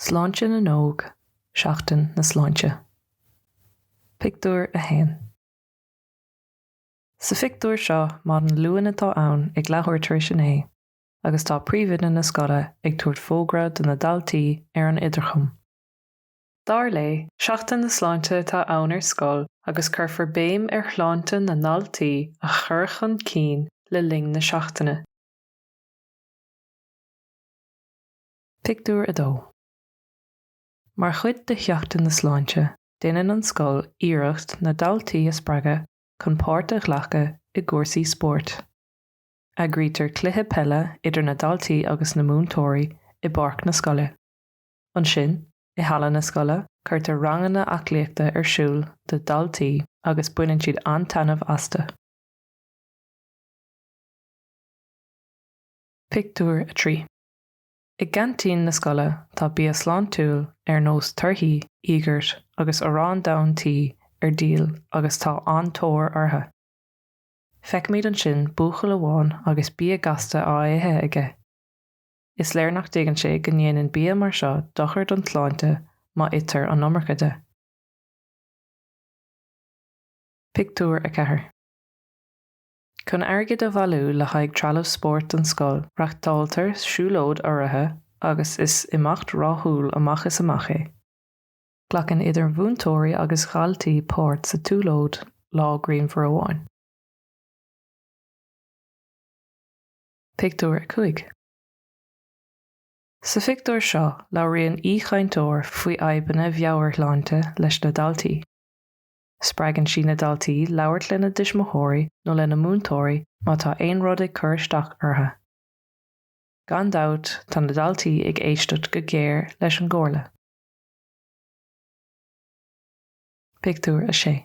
Sláinte na nÓg, Seachtain na Sláinte. Pictiúr 1 Sa phictiúr seo, maidin Luain atá ann ag leathuair tar éis a naoi agus tá príomhoide na scoile ag tabhairt fógra do na daltaí ar an idirchum. Dar léi, Seachtain na Sláinte atá ann ar scoil agus cuirfear béim ar shláinte na ndaltaí a chur chun cinn le linn na seachtaine. Pictiúr 2 Mar chuid de Sheachtain na Sláinte, déanann an scoil iarracht na daltaí a spreagadh chun páirt a ghlacadh i gcúrsaí spóirt. Eagraítear cluiche peile idir na daltaí agus na múinteoirí i bpáirc na scoile. Ansin, i halla na scoile, cuirtear ranganna aclaíochta ar siúl do dhaltaí agus baineann siad an-taitneamh astu. Pictiúr 3 I gceaintín na scoile tá bia sláintiúil ar nós torthaí, íogart agus arán donn tí ar díol agus tá an-tóir orthu. Feicimid ansin buachaill amháin agus bia gasta á ithe aige. Is léir nach dtuigeann sé go ndéanann bia mar seo dochar don tsláinte má itear an iomarca de. Pictiúr 4. Chun airgid a bhailiú le haghaidh trealamh spóirt don scoil, reáchtáltar siúlóid urraithe agus is imeacht rathúil amach is amach é. Glacann idir mhúinteoirí agus dhaltaí páirt sa tsiúlóid lá grianmhar amháin. Pictiúr 5 Sa phictiúr seo labhraíonn aoichainteoir faoi fhadhbanna mheabhairshláinte leis na daltaí. Spreagann sí na daltaí labhairt lena dtuismitheoirí nó lena múinteoirí má tá aon rud ag cur isteach orthu. Gan dabht tá na daltaí ag éisteacht go géar leis an gcomhairle. Pictiúr 6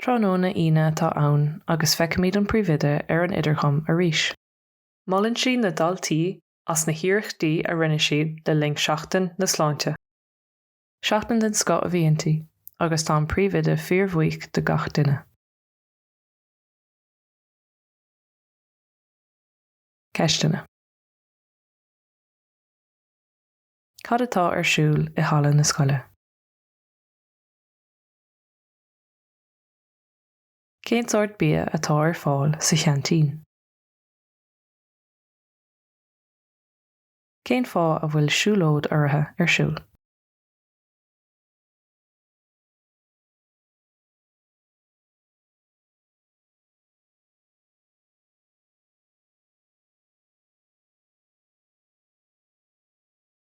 Tráthnóna Aoine atá ann agus feicfimid an príomhoide ar an idirchum arís. Molann sí na daltaí as na hiarrachtaí a rinne siad le linn Seachtain na Sláinte. Seachtain den scoth a bhí inti agus tá an príomhoide fíorbhuíoch de gach duine. Ceisteanna. Cad atá ar siúl i halla na scoile? Cén sórt bia atá ar fáil sa cheaintín? Cén fáth a bhfuil siúlóid urraithe ar siúl?